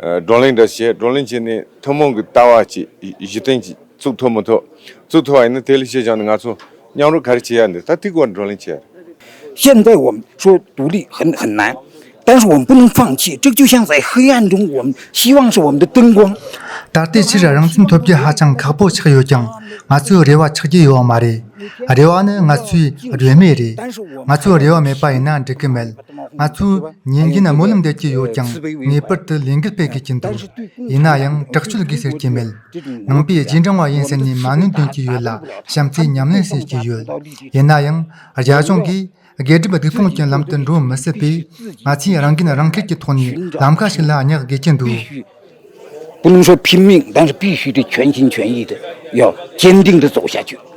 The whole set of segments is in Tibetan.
བགྲོ་གླེང་འདྲ་བྱས་བགྲོ་གླེང་བྱས་ནས་ཐུན་མོང་གི་ལྟ་བ་བྱས་གཞི་རྟེན་གྱི་གཙུག་ཐོག་མི་ཐོག་གཙུག་ཐོག་ཡིན་ན་དེ་ལས་ཤེས་བྱུང་ནི་ང་ཚོ་མཉམ་རུབ་ག་རེ་བྱེད་ཡ་འདི་ད་ཐིག་བར་བགྲོ་གླེང་བྱས། ཤེས་ལྡན་བོམ་ཆོས་དུ་ལི་ཧན་ཧན་ནན་ཏན་ཧྲི་བོམ་པུན་ལུང་ཧྥང་ཆི་ཀྲིག་ཅུ་ཤང་ཟའི་ཧི་ཡན་ཀྲུང་བོམ་ཤི་ཝང་ཧྲི་བོམ་དུ་ཏུན་གོང། ད་ལྟའི་ཕྱིར་རང་བཙན་ཐོབ་རྒྱུ་ཧ་ཅང་ཁག་པོ་ཆགས་ཡོད་ཀྱང་ང་ཚོས་རེ་བ་ཆགས་ཀྱི་ཡོད་མ་རེད། རེ་བ་ནི་ང་ཚོའི་རེ་མེད་རེད། ང་ཚོའི་རེ་བ་མེད་པ་ཡིན་ན་འགྲིག་གི་མེད། ང་ཚོས་ཉིན་རྒྱུན་སྨོན་ལམ་འདེབས་ཀྱི་ཡོད་ཀྱང་ངེས་པར་དུ་ལས་འགུལ་སྤེལ་དགོས་ཀྱི་འདུག་ཡིན་ན་ཡང་དྲག་སྤྱོད་དགོས་ཟེར་གྱི་མེད་ནང་པའི་རྗེས་འབྲང་བ་ཡིན་ཟེར་ནས་མ་གནོད་འདོན་གྱི་ཡོད་ལ་བྱམས་བརྩེའི་ཉམས་ལེན་བྱེད་ཀྱི་ཡོད་ཡིན་ན་ཡང་རྒྱ་གཞུང་གིས་སྒེར་སྒྲིབ་སྡིག་སྤོང་གི་ལམ་དུ་འགྲོ་མི་སྲིད་པས་ང་ཚོས་རང་འགན་རང་འཁུར་གྱི་ཐོག་ནས་ལམ་ཁ་ཞིག་ལ་བསྙེག་དགོས་ཀྱི་འདུག། དཔོན་ཤོག་ཕིན་མིང་གདང་སྤེལ་ཞུས་ཏེ་ཁྱོན་ཆེན་ཁྱོན་ཡིག་ཏུ་ཡོད་ཅན་སྟེང་དུ་གཙོ་བོ་བྱ་རྒྱུ།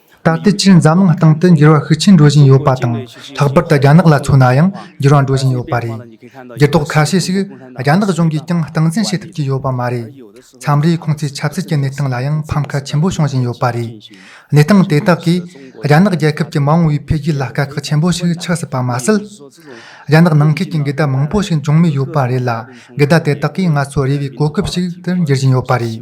ད་ལྟའི་ཆར་འཛམ་གླིང་སྟེང་དུ་འགྱུར་བ་ཤུགས་ཆེན་འགྲོ་བཞིན་ཡོད་པ་དང་ལྷག་པར་དུ་རྒྱ་ནག་ལ་མཚོན་ན་ཡང་འགྱུར་བ་འགྲོ་བཞིན་ཡོད་པ་རེད། འགྱུར་ལྡོག་ཁ་ཤས་ཤིག་རྒྱ་ནག་གཞུང་གིས་ཀྱང་སྟངས་འཛིན་བྱེད་ཐུབ་ཀྱི་ཡོད་པ་མ་རེད། མཚམས་རེ་ཁོང་ཚོའི་ཆབ་སྲིད་ཀྱི་གནས་སྟངས་ལ་ཡང་ཕམ་ཁ་ཆེན་པོ་བྱུང་བཞིན་ཡོད་པ་རེད། གནས་སྟངས་དེ་དག་གིས་རྒྱ་ནག་རྒྱལ་ཁབ་ཀྱི་མ་འོངས་བའི་འཕེལ་རྒྱས་ལ་དཀའ་ཁག་ཆེན་པོ་ཞིག་ཆགས་སྲིད་པ་མ་ཟད། རྒྱ་ནག་ནང་ཁུལ་གྱི་འགལ་ཟླ་མང་པོ་ཞིག་འབྱུང་མུས་ཡོད་པ་རེད་ལ་འགལ་ཟླ་དེ་དག་གིས་ང་ཚོ་རེ་བའི་གོ་སྐབས་ཤིག་ཏུ་འགྱུར་བཞིན་ཡོད་པ་རེད།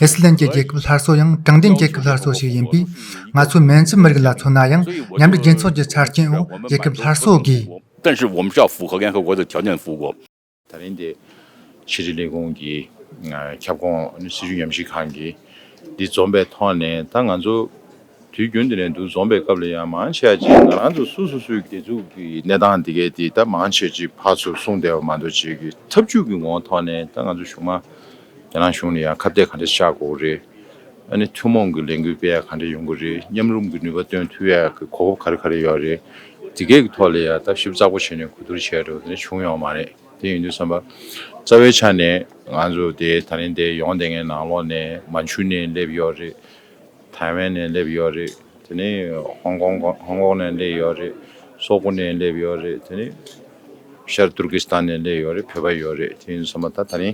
ཨི་སི་ལན་གྱི་རྒྱལ་ཁབ་སླར་གསོ་ཡང་དྲང་བདེན་རྒྱལ་ཁབ་སླར་གསོ་ཞིག་ཡིན་པས་ང་ཚོའི་མན་ཇུའི་མི་རིགས་ལ་མཚོན་ན་ཡང་མཉམ་འབྲེལ་རྒྱལ་ཚོགས་ཀྱི་ཆ་རྐྱེན་འོག་རྒྱལ་ཁབ་སླར་གསོ་དགོས། ཏན་ཧྲི་ཝོམ་ཤའོ་ཧྥུའུ་ཧོ་ཡན་ཧོ་གོ་ཏའོ་ཆའོ་ནན་ཧྥུའུ་གོ། ད་རིང་འདི་ཕྱི་དྲིལ་ལས་ཁུངས་ཀྱི་ཁྱབ་ཁོངས་སྲིད་ཇུས་ཉམས་ཞིབ་ཁང་གིས་འདི་འཛོམས་པའི་ཐོག་ནས་ད་ང་ཚོ་དུས་རྒྱུན་འདི་ནས་འདུ་འཛོམས་པའི་སྐབས་ལ་ཡང་མང་ཆེ་བ་གཅིག་ང་རང་ཚོ་སུ་སུ་སུའི་སྒེར་ཚུགས་ཀྱི་གནས་སྟངས་འདི་གས་འདི་ད་མང་ཆེ་བ་གཅིག་ཕར་ཚུར་གསུངས་བསྡད་པ་མ་གཏོགས་བྱེད་ཀྱི་ཐབས་ཇུས་ཀྱི་ངོ་ཐོག་ནས་ད་ང་ཚོ་གཞུང་མང་རྒྱ་ནག་གཞུང་ནས་ཡང་ཁ་གཏད་ག་འདྲ་ཤར་དགོས་རེད། ཨ་ནི་ཐུན་མོང་གི་ལས་འགུལ་སྤེལ་ཡ་ག་འདྲ་ཡོང་གི་རེད་མཉམ་རུམ་གྱི་ནུས་པ་བཏོན་ཐུབ་ཡ་གི་གོ་སྐབས་ག་རེ་ག་རེ་ཡོད་རེད། དེ་གའི་གི་ཐོག་ལས་ཡ་ལྟ་ཞིབ་གཙག་པོ་བྱེད་ནས་གོ་བསྡུར་བྱས་འགྲོ་དེ་འདྲ་བྱུང་ཡོང་མ་རེད་དེ་ཡིན་དུས་བསམ་པ། རྩ་བའི་ཆ་ནས་ང་ཚོ་དེ་ད་རིང་དེ་ཡོང་དེ་ངའི་ནང་ལོགས་ནས་མ་འཕྱུར་ནས་སླེབས་ཡོད་རེད། ཐའེ་ཝན་ནས་སླེབས་ཡོད་རེད། དེ་ནས་ཧོང་ཀོང་ནས་སླེབས་ཡོད་རེད། སོག་པོ་ནས་སླེབས་ཡོད་རེད། དེ་ནས་ཤར་ཏུར་ཀི་སི་ཐན་ནས་སླེབས་ཡོད་རེད་བོད་པ་ཡོད་རེད་དེ་ཡིན་སོང་པ་ད་ད་ནི་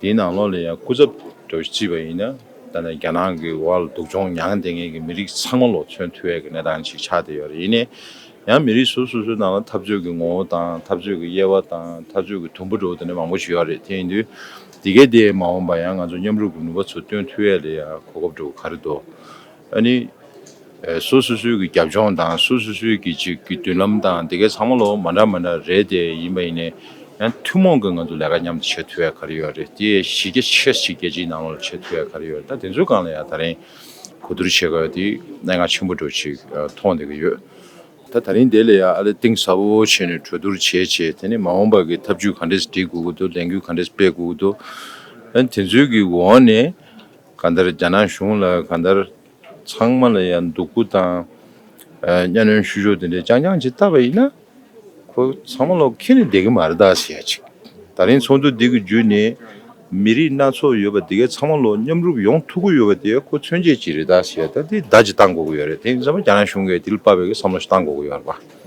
དེའི་ནང་ལོགས་ལ་ཡང་སྐུ་ཚབ་འགྲོ་རྩིས་པ་ཡིན་ན་ད་ནི་རྒྱ་ནག་གི་འོག་ལ་སྡུག་སྦྱོང་མྱངས་བསྡད་མཁན་གྱི་མི་རིགས་ཚང་མ་ལོགས་མཚོན་ཐུབ་ཡས་ཀྱི་གནས་སྟངས་ཤིག་ཆགས་བསྡད་ཡོད་རེད་ཡིན་ནའི་ཡང་མི་རིགས་སོ་སོ་སོའི་ནང་ལ་འཐབ་རྩོད་ཀྱི་ངོ་བོ་དང་འཐབ་རྩོད་ཀྱི་དབྱེ་བ་དང་འཐབ་རྩོད་ཀྱི་དུམ་བུ་འགྲོ་བ་ད་ནི་མང་པོ་ཞིག་ཡོད་རེད་དེ་ཡིན་དུས། དེ་གའི་དེ་མ་འོངས་པ་ཡང་ང་ཚོ་མཉམ་རུབ་ཀྱི་ནུས་པ་ཚུར་བཏོན་ཐུབ་ཡས་ལ་ཡང་གོ་སྐབས་འགྲོ་གི་ག་རེ་འདུག་ཨ་ནི། སོ་སོ་སོའི་གི་རྒྱབ་ལྗོངས་དང་སོ་སོ་སོའི་གི་ཅིག་གི་མདུན་ལམ་དང་དེ་གའི་ཚང་མ་ལོ་མ་འདྲ་མ་འདྲ་རེད་དེ་ཡིན་པ་ཡིན་ནས་ཡང་ཐུན་མོང་གི་ང་ཚོ་ལས་ཀ་མཉམ་དུ་བྱེད་ཐུབ་ཡས་ག་རེ་ཡོད་རེད་དེ་གཞི་རྒྱ་ཆེ་ཞིག་རྒྱལ་སྤྱིའི་ནང་ལོ་བྱེད་ཐུབ་ཡས་ག་རེ་ཡོད་རེད་ད་དེ་ཚོའི་སྒང་ལ་ཡང་ད་རིང་གོ་བསྡུར་བྱེད་ག་ཡོད་དེ་གནད་འགག་ཆེན་པོ་འགྲོ་ཅིག་མཐོང་བསྡད་གི་ཡོད། ད་ད་རིང་དེ་ལས་ཡང་ཨ་ལེ་གཏིང་ཟབ་བོ་བྱས་ནས་གྲོས་བསྡུར་བྱེད་བྱེད་དེ་ནས་མ་འོངས་པར་གྱི་ཐབས་ཇུས་ག་འདྲས་སྒྲིག་དགོས་ཀྱི་འདུག་ལས་འགུལ་ག་འདྲས་སྤེལ་དགོས་ཀྱི་འདུག་ཨ་དེ་ཚོའི་གི་འོག་ནས་ག་འདར་རྒྱ་ནག་གཞུང་ལ་ག་འདར་ཚང་མ་ལ་ཡང་འདུག་གུ་དང་གཉའ་གནོན་ཞུ་ཕྱོགས་དེ་འདྲས་རྐྱང་རྐྱང་བྱེད་བཏབ་པ་ཡིན་ན་ཁོ་ཚང་མ་ལོག་ཁེལ་ནས་བསྡད་ཀྱི་མ་རེད་དཱ་ཟེར་ཡ་ཅིག་ད་རིང་ཚོགས་འདུ་འདི་གི་བརྒྱུད་ནས། མི་རིགས་སྣ་ཚོགས་ཡོད་པ་དེ་གའི་ཚང་མ་ལོ་མཉམ་རུབ་ཡོང་ཐུག་གི་ཡོད་པ་དེ་ཁོ་མཚོན་བྱེད་ཅིག་རེད་ད་ཞེས་ད་དེ་ལྟ་ཅིག་བཏང་དགོས་ཀྱི་ཡོད་རེད་དེ་ཚང་མ་རྒྱ་ནག་གཞུང་གིས་དེ་ལ་དཔའ་བོའི་གི་བསམ་བློ་ཞིག་བཏང་དགོས་ཀྱི་ཡོད་རེད་པ།